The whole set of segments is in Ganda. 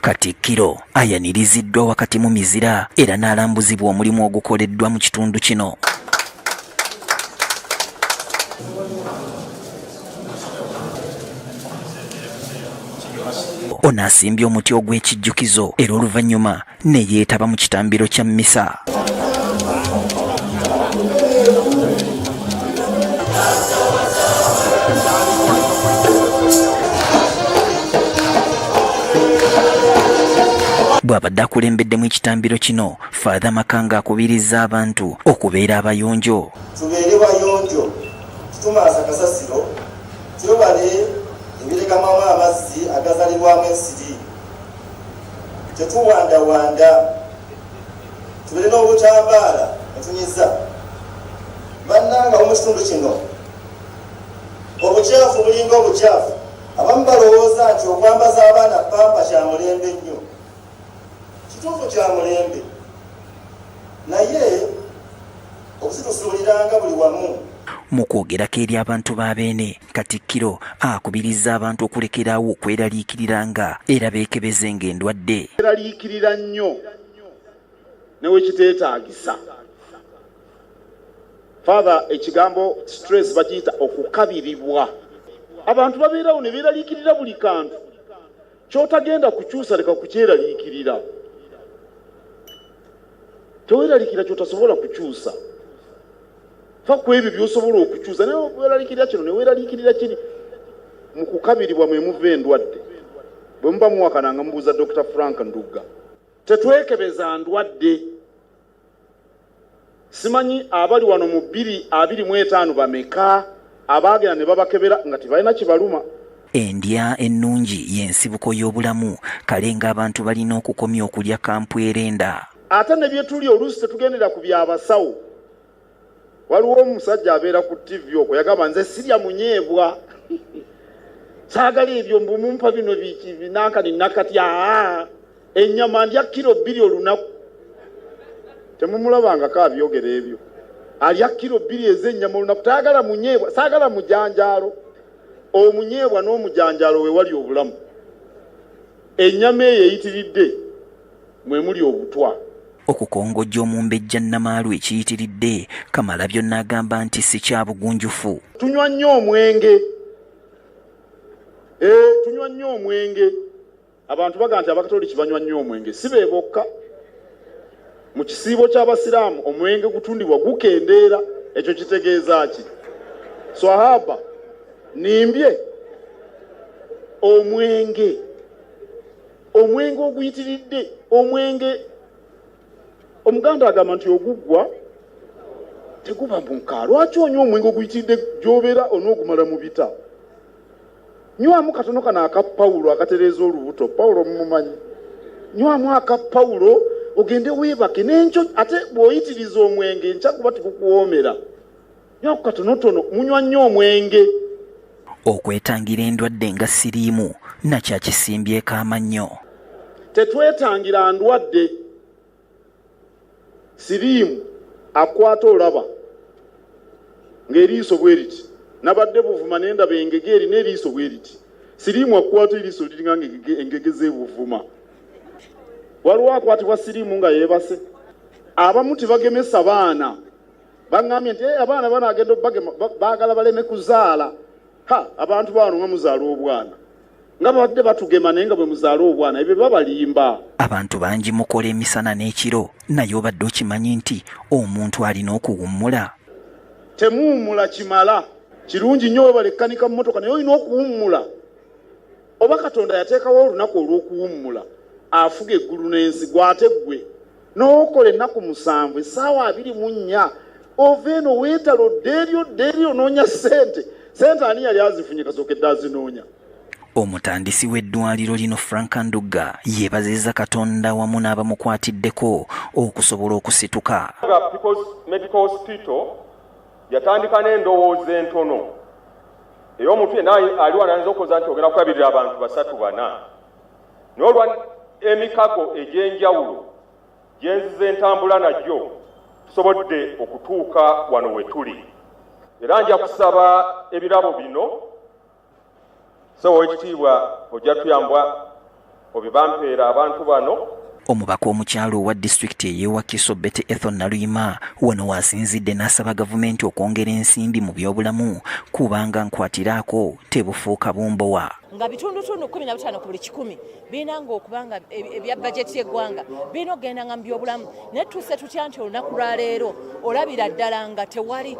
Katikkiro ayaniriziddwa wakati mu mizira era n'alambuzibwa omulimu ogukoleddwa mu kitundu kino. ono asimbye omuti ogw'ekijjukizo era oluvannyuma ne yeetaba mu kitambiro kya mmisa. bw'abadde akulembeddemu ekitambiro kino faatha makanga akubirizza abantu okubeera abayonjo tubeere bayonjo tumaasa kasasiro twebale ebiregamamu amazzi agazalibwamu ensiri tetuwandawanda tubere n'obutambaala netunyiza bannanga mu kitundu kino obukyafu bulinga obukyafu abamu balowooza nti okwambaza abaana pampa kya mulembe nnyo kituufu kya mulembe naye okuzitusuuliranga buli wamu mu kwogerako eri abantu ba beene Katikkiro akubirizza abantu okulekerawo okweraliikiriranga era beekebezenga endwadde. Eraliikirira nnyo ne we kiteetaagisa. Father, ekigambo stress bakiyita okukabiribwa. Abantu babeerawo ne beeraliikirira buli kantu. kyotagenda kukyusa leka kukyeraliikirira teweraliikirira kyotasobola kukyusa fa ku ebyo byosobola okukyusa naye weraliikirira kino neweraliikirira kiri mu kukabiribwa mwe muva endwadde bwe muba muwakana nga mubuuza dr frank ndugga tetwekebeza ndwadde Simanyi abali wano mu bbiri abiri mu etaano bameka abaagenda ne babakebera nga tebalina kibaluma. Endya ennungi y'ensibuko y'obulamu, kale ng'abantu balina okukomya okulya kampwerenda. Ate ne bye tulya oluusi tetugendera ku bya basawo. waliwo omusajja abeera ku tv okwo yagamba nze sirya munyeebwa saagala ebyo mbumumpa bino binankani nakati aa ennyama ndya kiro bbiri olunaku temumulabangako abyogera ebyo alya kiro bbiri ez'ennyama olunaku tayagala munyeebwa saagala mujanjaalo omunyeebwa n'omujanjaalo we wali obulamu ennyama eyo eyitiridde mwe muli obutwa. Okukongojja omumbejja Nnamaalu ekiyitiridde, Kamalabyonna agamba nti ssi kya bugunjufu. Tunywa nnyo omwenge, eh, tunywa nnyo omwenge. Abantu bagamba nti Abakatoliki banywa nnyo omwenge, si be bokka. Mu kisiibo ky'Abasiraamu omwenge gutundibwa gukendeera. Ekyo kitegeeza ki? Swahaba nimbye omwenge. omwenge oguyitiridde omwenge omuganda agamba nti oguggwa teguba mu nka lwaki onywa omwenge oguyitiridde gyobeera onoogumala mu bita nywamu katono kano aka pawulo akatereeza olubuto pawulo mumumanyi nywamu aka pawulo ogende weebake n'enkyo ate bw'oyitiriza omwenge enkya guba tigukuwoomera nyo katonotono munywa nnyo omwenge okwetangira endwadde nga siriimu nakyakisimbyeko amannyo tetwetangira ndwadde siriimu akwata olaba ng'eriiso bwe riti nabadde buvuma nendaba engege erina eriiso bwe riti siriimu akwata eriiso liringa nga engege zebuvuma waliwo akwatibwa siriimu nga yeebase abamu tebagemesa baana baŋŋambye nti eh, abaana bano agenda obagema baagala baleme kuzaala ha abantu baano nga muzaala obwana nga babadde batugema naye nga bwe muzaala obwana ebyo babalimba abantu bangi mukola emisana n'ekiro naye obadde okimanyi nti omuntu alina okuwummula temuwummula kimala kirungi nnyo webale kkanika mu motoka naye olina okuwummula oba katonda yateekawo olunaku olw'okuwummula afuga eggulu n'ensi gwate ggwe n'okola ennaku musanvu essaawa abiri mu nnya ova eno weetala odda eri odda eri onoonya ssente ssente ani yali azifunye kasooka edda azinoonya omutandisi w'eddwaliro lino frank ndugga yeebaziza katonda wamu n'abamukwatiddeko okusobola okusituka yatandika n'endowooza entono ey'omuntu yena ali wanayinza okukoza nti ogenda kulabirira abantu basatu bana N'olwa emikago egy'enjawulo gye nzize entambula nagyo tusobodde okutuuka wano we tuli era nja kusaba ebirabo bino sewa w'ekitiibwa ojja tuyambwa obibampeera abantu bano omubaka omukyalo owa disitulikiti eyewakiso bete ethon naluyima wano waasinzidde n'asaba gavumenti okwongera ensimbi mu byobulamu kubanga nkwatiraako tebufuuka bumbowa nga bitundutundu kumi na butaano ku buli kikumi birina nga okuba nga ebya bajeti y'eggwanga birina okugenda nga mu byobulamu naye tuuse tutya nti olunaku lwaleero olabira ddala nga tewali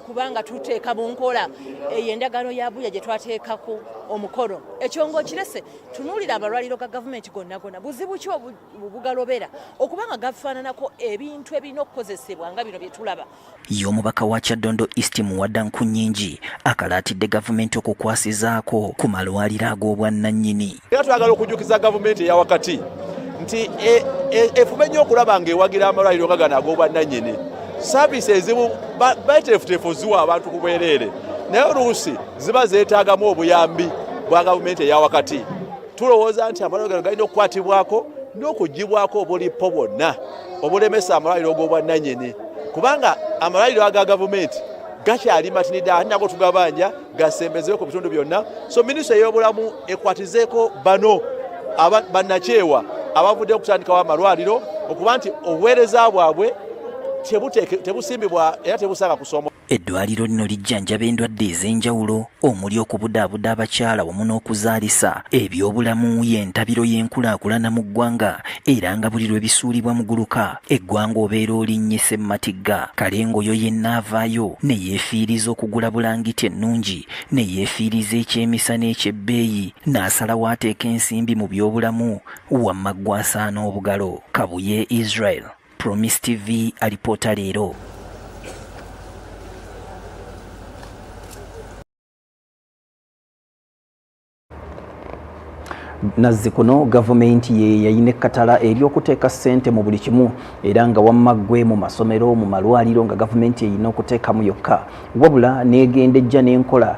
kubanga tuteeka mu nkola eyo endagaano ya buya gye twateekako omukolo ekyo ngaokirese tunuulira amalwaliro ga gavumenti gonna gonna buzibu ki obugalobera okuba nga gafaananako ebintu ebirina okukozesebwa nga bino bye tulaba Ye omubaka wa Kyaddondo East Muwada Nkunyingi akalaatidde gavumenti okukwasizaako ku malwaliro ag'obwannannyini. Era twagala okujjukiza gavumenti eya wakati nti e, e, efube nnyo okulaba ng'ewagira amalwaliro nga gano ag'obwannannyini saaviisi ezimu beteefuteefu ziwa abantu ku bwereere naye oluusi ziba zeetaagamu obuyambi bwa gavumenti eya wakati. tulowooza nti amalwaliro gano galina okukwatibwako n'okugibwako obulipo bwonna obulemesa amalwaliro g'obwannanyini kubanga amalwaliro aga gavumenti gakyali matinidde ate nago tugabanja gasembezewo ku bitundu byonna so minisita ey'obulamu ekwatizeeko bano bannakyewa abavudde okutandikawo amalwaliro okuba nti obuweereza bwabwe tebusimbibwa era tebusanga kusoma Eddwaliro lino lijjanjaba endwadde ez'enjawulo omuli okubudaabuda abakyala wamu n'okuzaalisa. Ebyobulamu y'entabiro y'enkulaakulana mu ggwanga era nga buli lwe bisuulibwa muguluka, eggwanga obeera olinnye ssemmatigga. Kale ng'oyo yenna avaayo ne yeefiiriza okugula bulangiti ennungi, ne yeefiiriza ekyemisana eky'ebbeeyi, n'asalawo ateeke ensimbi mu byobulamu, wamma ggwe asaana obugalo. Kabuye Israel. Promise TV alipoota leero. nazzi kuno gavumenti ye yayina ekkatala ery'okuteeka ssente mu buli kimu era nga wamma ggwe mu masomero mu malwaliro nga gavumenti eyina okuteekamu yokka wabula n'egenda ejja n'enkola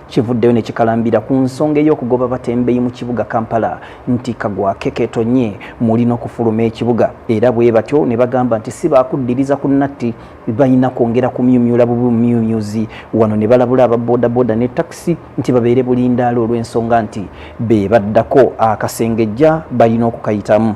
kivuddeyo ne kikalambira ku nsonga ey'okugoba batembeyi mu kibuga kampala nti kagwake ketonye muli n'okufuluma ekibuga era bwe batyo ne bagamba nti si baakuddiriza ku natti balina kwongera kumyumyula bubumyumyuzi wano ne balabula aba bodaboda ne takisi nti babeere bulindaala olw'ensonga nti be baddako akasengejja balina okukayitamu